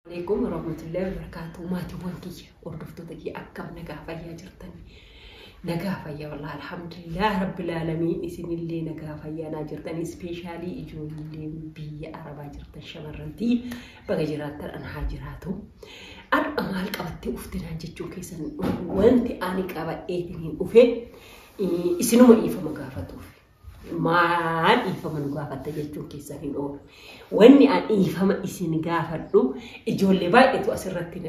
Waleekum warahmatullahi wabarakatuh maatiiwwan kiyya hordoftoota kiyya akkam nagaa fayyaa jirtan nagaa fayyaa wallah alhamdulillah rabbil aalamiin isinillee nagaa fayyaa naa jirtan ispeeshaalii ijoollee biyya arabaa jirtan shamarrantii baga jiraattan an haa jiraatu har'a maal qabattee uftinaan jechuu keessan wanti ani qabadheetiin hin dhufe isinuma dhiifama gaafatuuf Maal dhiifama nu gaafatta jechuun keessa hin oolu. Wanni an dhiifama isin gaafadhu ijoollee baay'eetu asirratti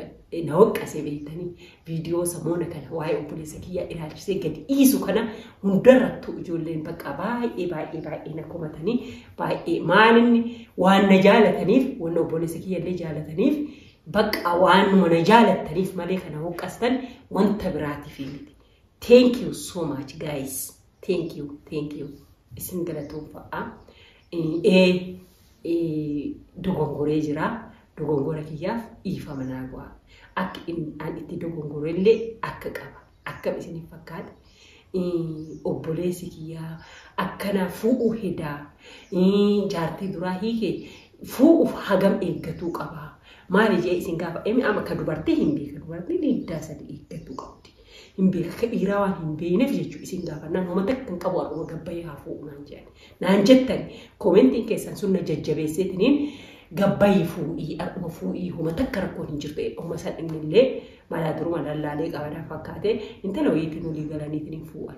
na waqqasee beektanii viidiyoo samoona kana waa'ee obboleessa kiyyaa ilaalchisee gadi dhiisu kana hundarrattuu ijoolleen bakka baay'ee baay'ee baay'ee na komatanii baay'ee maalinni waan na jaalataniif wanna obboleessa kiyyallee jaalataniif bakka waanuma na jaalattaniif malee kana waqqastan wanta biraatiif miti. Thank you so much guys. Thank you, thank you. Isin galatoomfadha. Ee dogongoree jira. Dogongora kiyyaaf dhiifama naa godha. Akka an itti dogongore illee akka qaba. Akkam isiniif fakkaata? Obboleessi kiyyaa akkana fuudhuu hedaa jaartii duraa hiike fuudhuuf hagam eeggatuu qaba. Maali jee isin gaafa emi amma ka dubartii hin beeka dubartiin hiddaa sadii eeggatuu qabdi. hin beeka akka dhiiraa waan hin beekneef jechuudha isin gaafannaan homa takka hin qabu har'uma gabbayee haa fuudhu naan jedhan naan jettan koomentiin keessan sun na jajjabeesseetiniin gabbayii fuudhii har'uma fuudhii homa takka rakkoon hin jirtu homa san innillee malaa duruma lallaalee qabadaa fakkaatee intala wayiitiin olii galaniitiin hin fuudhan.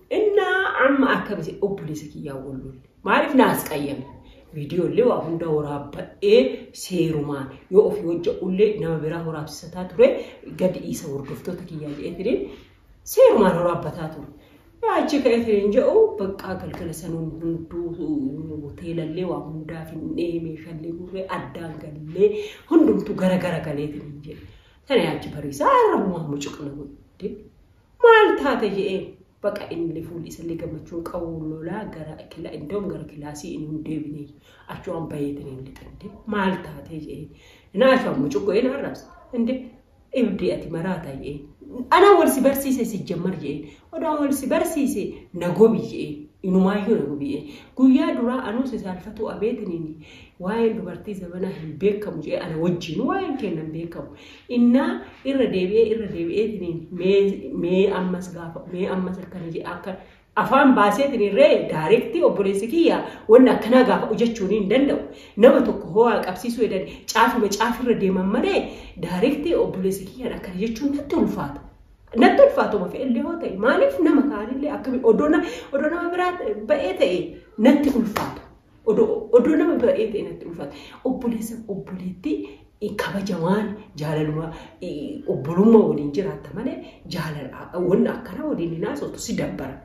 Innaa amma akkamiti obboleessa kiyyaa wallolle maaliif naas qayyame viidiyoo illee waa hunda waraabbadhee seerumaan yoo ofii hojja ullee nama biraa waraabsisataa ture gadi dhiisa hordoftoota kiyyaa jedheetiniin seerumaan waraabbataa ture. Achi ka'eetiniin jedhu baqqaa galgala sanuun hunduu hoteelallee waa hundaa finnee meeshaalee gurree addaan gallee hundumtuu gara gara galeetiniin jedhe. Sana yaachi bariisaa irra mucaqna godhe. maal taate je'een baqa inni fuulli isallee gammachuu hin qabu lolaa gara kila indoom gara kilaasii inni hin deebine achuwaan bayeetiin hin lixinde maal taatee je'een naa achuwaan mucuqqoo een arrabsa inde ibdii ati maraata je'een anaa wal si barsiise si jammar je'een odaan wal si barsiise na gobi je'een inumaayyuu na gobi je'een guyyaa duraa anuu si saalfatuu abeetiin waa'een dubartii zabanaa hin beekamu je'ee ana wajjiin waa'een keenna hin beekamu Innaa irra deebi'ee irra deebi'eetiniin mee mee ammas gaafa mee ammas akkana jedha akka afaan baaseetiin irree daayirektii obboleessi kiyya wanni akkanaa gaafadhu jechuun hin danda'u. Nama tokko hoo'aa qabsiisuu edan caafuma caafirra deeman malee daayirektii obboleessi kiyyaan akkana jechuun natti ulfaata. Natti ulfaatuma fe'ellee hoo ta'e maaliif nama kaanillee akkami odoo na- odoo nama biraa ba'ee ta'e natti ulfaata. Odoo nama baay'ee ta'e natti ulfaata. Obboleessa obboleettii kabajamaan jaalaluma obbolummaa waliin jiraatta malee jaalala wanna akkana waliin hin haasoftu si dabbara.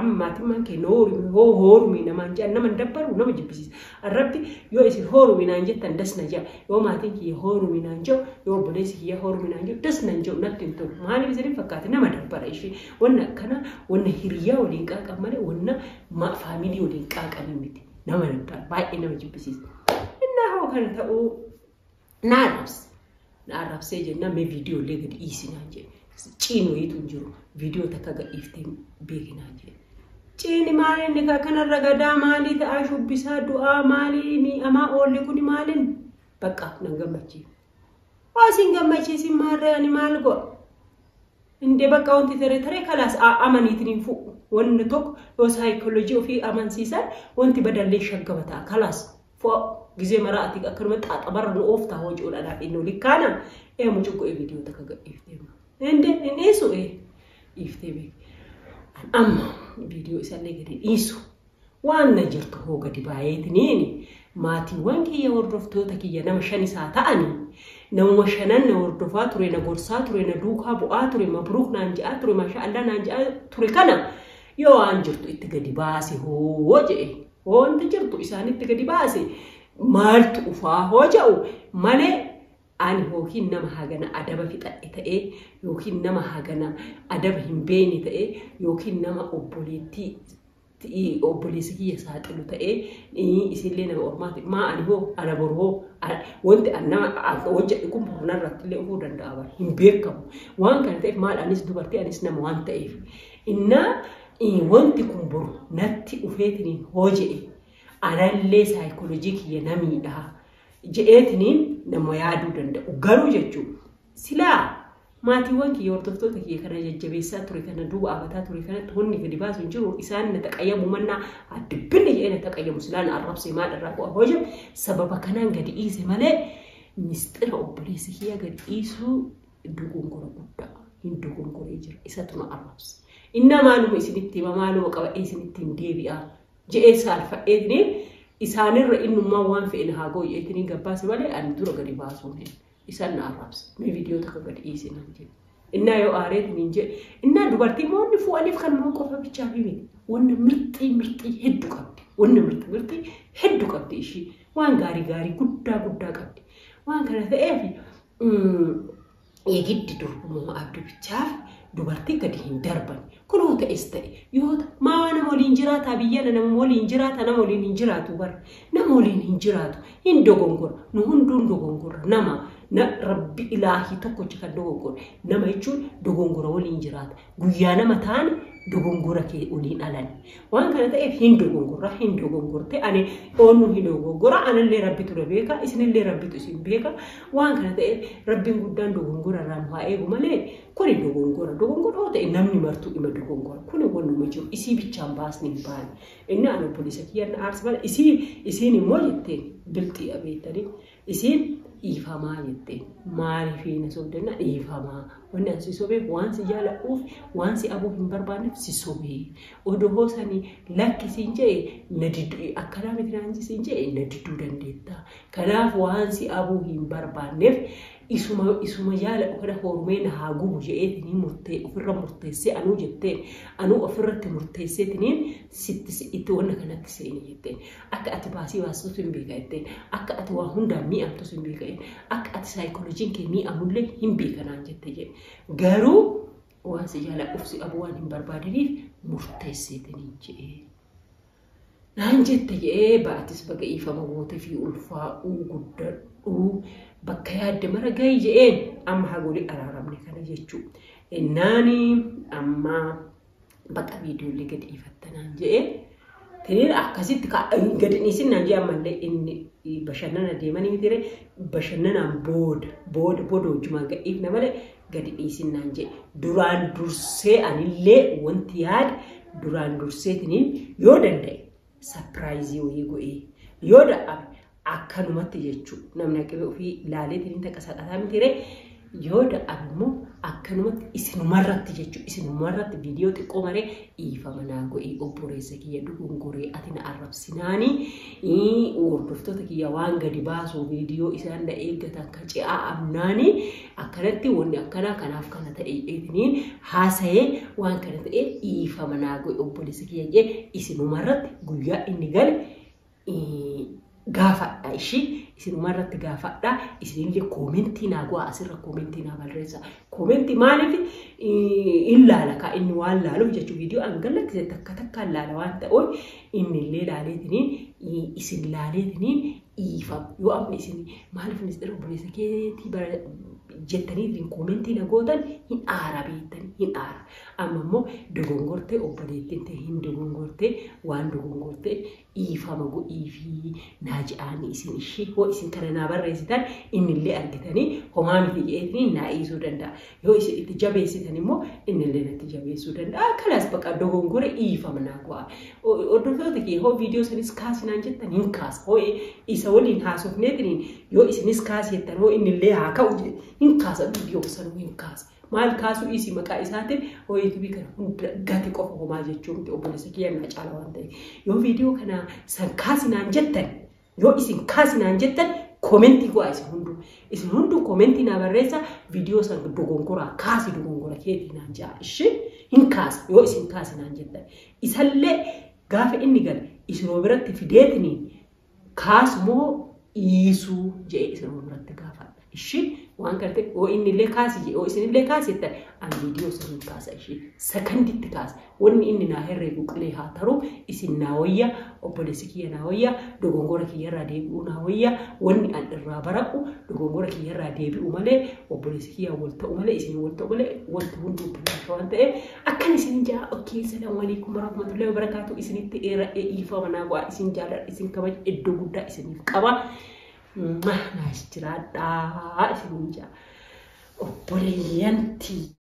Amma maatimmaan kee hoorumii hoo hoorumii namaan jedhan nama hin dabbaru nama jibbisiisa. Rabbi yoo isin hoorumii naan jettan das na ja'a. Yoo maatiin kiyya hoorumii naan ja'u yoo obboleessi kiyya hoorumii naan ja'u das nan ja'u natti hin tolu. Maaliif isin hin fakkaate nama dabbara ishee. Wanna akkana wanna hiriyaa waliin qaaqan malee wanna Ma faamilii waliin qaaqanii miti. Nama naggaan baay'ee nama jibbisiisa. Innaa hoo kan ta'uu na arrabse. Na arrabsee jennaan mee viidiyoo illee gadi dhiisinaan jedhe. Ciin wayiitu hin jiru. Viidiyoo takka gad dhiiftee beekinaan jedhe. Ciini maali inni kaa kanarra gadaa maalii ta'aa shubbisaa du'aa maalii miidhamaa oolli kuni maaliin bakka nan gammachiisu. Osin gammachiisin maarree ani maal go'a? Indee bakka wanti tere tere kalaas amaniitiin hin fuudhu. Wanni tokko yoo saayikoolojii ofii amansiisan wanti badallee shaggama ta'a kalaas fo'a gizee maraa ati akkanuma xaaxabarra nu ooftaa hojiidhaan haadhiin nu likkaana ee mucuqqu ee viidiyoo takka gadhiiftee ma. Indee hin dhiisu ee dhiiftee beeku. Amma viidiyoo isallee gadi dhiisu. Waan na jirtu hoo gadi baayeetiniin maatiiwwan kiyya hordoftoota kiyya nama shan isaa ta'ani namuma shanan na hordofaa ture na gorsaa ture na duukaa bu'aa ture mabruuk naan je'aa ture maashaa allaa naan je'aa ture kana yoo waan jirtu itti gadi baase hoo je'e hoo wanti jirtu isaanitti gadi baase maaltu ufaa hoo ja'u malee ani yookiin nama hagana adaba fixadhe ta'ee yookiin nama hagana adaba hin beeyne ta'ee yookiin nama obboleettii obboleessi kiyya saaxilu ta'ee isillee nama ormaati maa ani hoo ana boru hoo wanti nama hojjedhu kun boru narratti illee dhufuu danda'a bara hin beekamu waan kana ta'eef maal anis dubartii anis nama waan ta'eef innaa wanti kun boru natti dhufeetiniin hoo jedhe anallee saayikoolojii kiyya namiidha jedheetiniin nama yaaduu danda'u garuu jechuun Silaa maatiiwwan kiyya hordoftoota kiyya kana jajjabeessaa ture kana duuba abataa ture kanatti wanni gadi baasu hin jiru isaan na taqayyamu mannaa addibbinni jedhee na taqayyamu silaa na arrabsee maal irraa bu'a hooja sababa kanaan gadi dhiise malee misxira obboleessa kiyya gadi dhiisuu dogongora guddaa hin dogongoree jira isatu na arrabse innaa maaluma isinitti hima maaluma qabadhee isinitti hin deebi'a jedhee saalfadheetni isaanirra innummaa waan fe'e na haa gooyyeetni gabbaase malee ani dura gadi baasuu hin isan na arraabse mee viidiyoo takka gad dhiisi naan jedhe innaa yoo aareet niin jedhe innaa dubartii moonni fu'aniif kan moo qofa bichaa fi miti wanna mirxii mirxii heddu qabdi wanna mirxii mirxii heddu qabdi ishii waan gaarii gaarii guddaa guddaa qabdi waan kana ta'eef eegiddi durbummaa abdi bichaaf dubartii gadi hin darban Kunoo ta'es ta'e yoo ta, maa nama waliin jiraataa biyyana nama waliin jiraata nama waliin hin jiraatu bar nama waliin hin jiraatu hin dogongora nu hunduun dogongora nama na rabbi ilaahii tokkocha kan dogongora nama jechuun dogongora waliin jiraata guyyaa nama taane dogongora kee waliin alani waan kana ta'eef hin dogongora hin dogongorte ani oonnu hin dogongora anallee rabbitu na beeka isinillee rabbitu isin beeka waan kana ta'eef rabbiin guddaan dogongora irraa nu haa eegu malee Kuni dogongora. Dogongora yoo ta'e namni martuu ima dogongora. Kuni wanuma jiru isii bichaan baasni hin baane. Inni an obboleessa kiyya na aarse malee isii isiin immoo jetteen bilxii abeettanii isiin dhiifamaa jetteen maaliifii na sobdannaa dhiifamaa wanni an si sobeef waan si jaaladhuuf waan si abuu hin barbaanneef si sobee odoo hoosanii lakki siin je'e na didduu akkanaa miti naan siin je'e na didduu dandeetta kanaaf waan si abuu hin barbaanneef Isuma isuma yaala ukeda hoormee na haa gubu je'eetiniin murtee ufirra murteessee anuu jetteen anuu ofirratti murteesseetiniin sitti si itti wanna kanatti seeni jetteen akka ati baasii baastutu hin beeka jetteen akka ati waa hundaan mii'amtus hin beeka jedhe akka ati saayikolojiin kee mii'amullee hin beeka naan jette jedhe garuu waan si jaaladhuuf si dhabuu waan hin barbaadiniif murteesseetiniin je'e. naan jette je'ee ba'atis baga dhiifama gootefii ulfaa'uu guddadhuu bakka yaadde mara gayi je'een amma haga wali araaramne kana jechuu ennaani amma baqa viidiyoollee gad dhiifatta naan je'e tiniin akkasitti ka- hin gad hin dhiisin naan je'e ammallee inni bashannana deemanii mitire bashannanaan booda booda booda wajjumaan gad dhiifna malee gadi dhiisin naan jedhe duraan dursee anillee wanti yaade duraan durseetiniin yoo danda'e sapiraayizii wayii go'ee yoo dadhabe akkanumatti jechuu namni aqibee ofii laaleetiniin takka saqataa miti ree yoo dadhabe immoo akkanumatti isinumarratti jechuu isinumarratti viidiyoo xiqqoo maree dhiifama naa go'ii obboreessa kiyya dogongoree ati na arrabsinaanii hordoftoota kiyya waan gadi baasuu viidiyoo isaan na eeggatan ka ce'aa amnaanii akkanatti wanni akkanaa kanaaf kana ta'e jedhanii haasa'ee waan kana ta'e dhiifama naa godhe obboleessa kiyya jee isinuma irratti guyyaa inni gale eh, gaafadha ishii isinuma irratti gaafadha isinillee koomentii naa go'a asirra koomentii naa barreessa koomentii maaliif eh, in laala kaa inni waan laaluuf jechuu viidiyoo an gallakkise takka takkaan laala waan ta'uun innillee laaleetiniin eh, isin laaleetiniin dhiifa yoo amma isin maaliif ministeera obboleessa keetii bara jettaniitiin koomentii na gootan hin aara beektanii hin aara. Amma immoo dogongortee obboleettiin ta'e hin dogongortee waan dogongortee dhiifama godhiifii naa je'aanii isin ishii hoo isin kana naa barreessitan innillee argitanii homaa miti je'eetiin naa dhiisuu danda'a. Yoo isin itti jabeessitan immoo inni illee natti jabeessuu danda'a. Kanas baqa dogongore dhiifama naa go'a. Hordoftoota kee hoo viidiyoo sanis kaasinaan jettan hin kaasa. Hoo isa waliin haasofneetiin yoo isinis kaasi jettan hoo inni illee haa ka'u hin kaasa viidiyoo sanuu hin kaasa. Maal kaasuu dhiisi maqaa isaatiin hoo yuutuubii kana hunda gati qofa homaa jechuu miti obboleessa kiyya naa caala waan ta'eef. Yoo viidiyoo kana san kaasinaan jettan Yoo isin kaasi naan jettan komentii go'a isin hunduu. Isin hunduu komentii naa barreessa viidiyoo san dogongoraa kaasi dogongora keetii naan ja'a. Ishee hin kaasa yoo isin kaasi naan jettan. Isallee gaafa inni gale isinuma biratti fideetiniin kaasu moo dhiisuu jedhee isinuma biratti gaafadha. Ishii waan gartee oo inni illee kaasi jee oo isin illee kaasi jettan ani viidiyoo isin hin kaasa ishii sakanditti kaasa wanni inni naa herreegu qilee haa taruu isin naa wayya obboleessi kiyya naa wayya dogongora kiyya irraa deebi'uu naa wayya wanni an irraa bara'u dogongora kiyya irraa deebi'u malee obboleessi kiyya wal ta'u malee isin wal ta'u malee wanti hundi obboleessi waan ta'e akkan isin jaa okkee salaamu alaikum warahmatullahi wabarakatuh isinitti dheera dhiifama naa go'a isin jaalladha isin kabaja iddoo guddaa isiniif qaba. Mah naaf jiraadhaa isiniin jaa obboleeyyan tiyya.